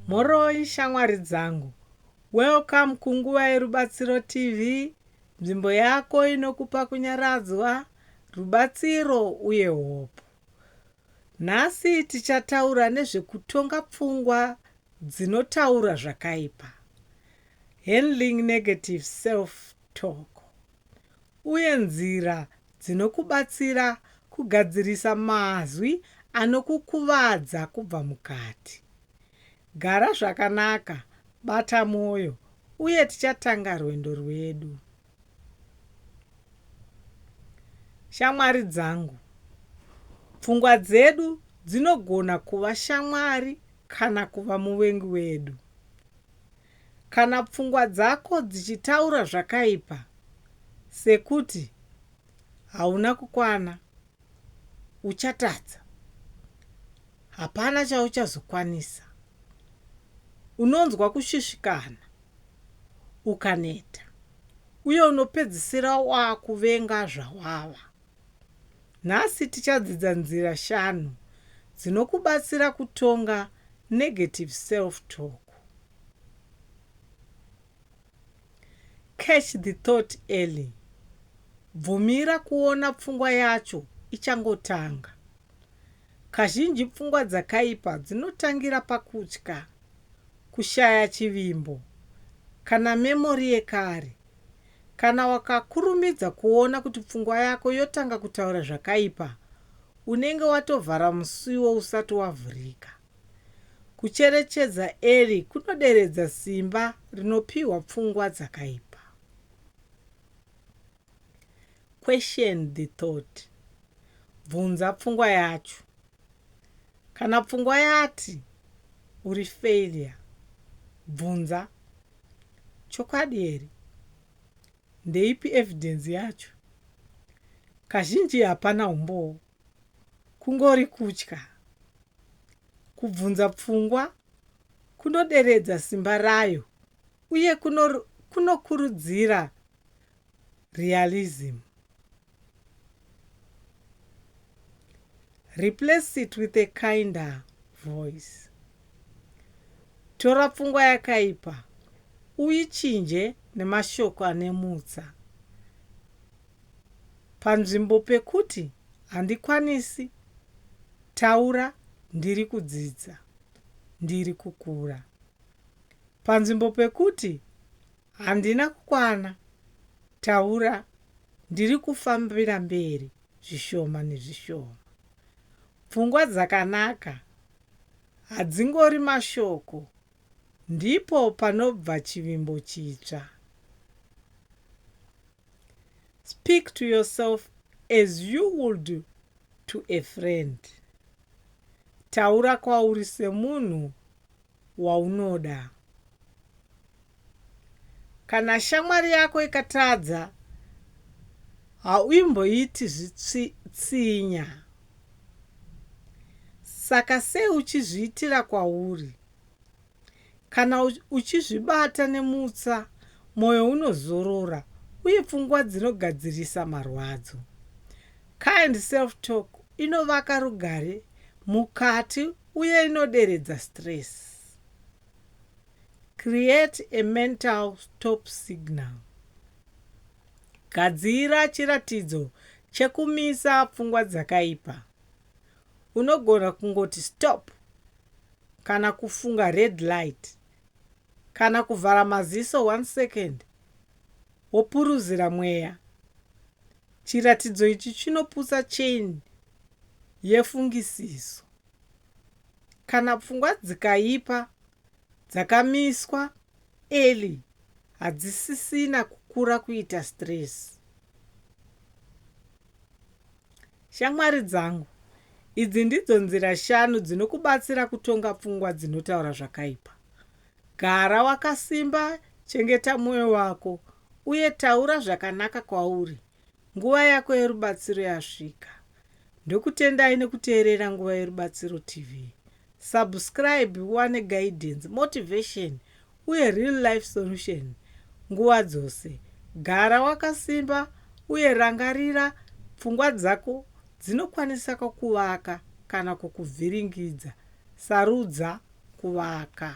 Mhoroi shamwari dzangu. Welcome kunguva yeRubatsiro TV, nzvimbo yako inokupa kunyaradzwa, rubatsiro uye hope. Nhasi tichataura nezvekutonga pfungwa dzinotaura zvakaipa, handling negative self talk. uye nzira dzinokubatsira kugadzirisa mazwi anokukuvadza kubva mukati. Gara zvakanaka, bata mwoyo, uye tichatanga rwendo rwedu. Shamwari dzangu. Pfungwa dzedu dzinogona kuva shamwari kana kuva muvengi wedu. Kana pfungwa dzako dzichitaura zvakaipa sekuti hauna kukwana, uchatadza, hapana chauchazokwanisa, unonzwa kushushikana, ukaneta, uye unopedzisira wakuvenga zvawava. Nhasi tichadzidza nzira shanu dzinokubatsira kutonga negative self-talk. Catch the thought early. Bvumira kuona pfungwa yacho ichangotanga. Kazhinji pfungwa dzakaipa dzinotangira pakutya, kushaya chivimbo, kana memori yekare. Kana wakakurumidza kuona kuti pfungwa yako yotanga kutaura zvakaipa, unenge watovhara musiwo usati wavhurika. Kucherechedza Eli kunoderedza simba rinopiwa pfungwa dzakaipa. Question the thought. Bvunza pfungwa yacho. Kana pfungwa yati, Uri failure, bvunza, Chokwadi here? Ndeipi evidence yacho? Kazhinji hapana humbowo. Kungori kutya. Kubvunza pfungwa kunoderedza simba rayo uye kunokurudzira realism. Replace it with a kinder voice. Tora pfungwa yakaipa uichinje nemashoko ane mutsa. Panzvimbo pekuti handikwanisi, taura ndiri kudzidza, ndiri kukura. Panzvimbo pekuti Handina kukwana taura ndiri kufambira mberi zvishoma nezvishoma. Pfungwa dzakanaka hadzingori mashoko ndipo panobva chivimbo chitsva. Speak to yourself as you would to a friend. Taura kwauri semunhu waunoda. Kana shamwari yako ikatadza, hauimboiti zvitsinya. Saka sei uchizviitira kwauri? Kana uchizvibata nemutsa, mwoyo unozorora uye pfungwa dzinogadzirisa marwadzo. Kind self-talk inovaka rugare mukati Uye inoderedza stress. Create a mental stop signal. Gadzira chiratidzo chekumisa pfungwa dzakaipa. Unogona kungoti stop kana kufunga red light kana kuvhara maziso one second wopuruzira mweya. Chiratidzo ichi chinoputsa chain yefungisiso. Kana pfungwa dzikaipa dzakamiswa early hadzisisina kukura kuita stress. Shamwari dzangu, idzi ndidzo nzira shanu dzinokubatsira kutonga pfungwa dzinotaura zvakaipa. Gara wakasimba, chengeta mwoyo wako, uye taura zvakanaka kwauri Nguva yako yerubatsiro yasvika. Ndokutendai nekuteerera Nguva Yerubatsiro TV. Subscribe uwane guidance, motivation uye real life solution nguva dzose. Gara wakasimba uye rangarira pfungwa dzako dzinokwanisa kukuvaka kana kukuvhiringidza. Sarudza kuvaka.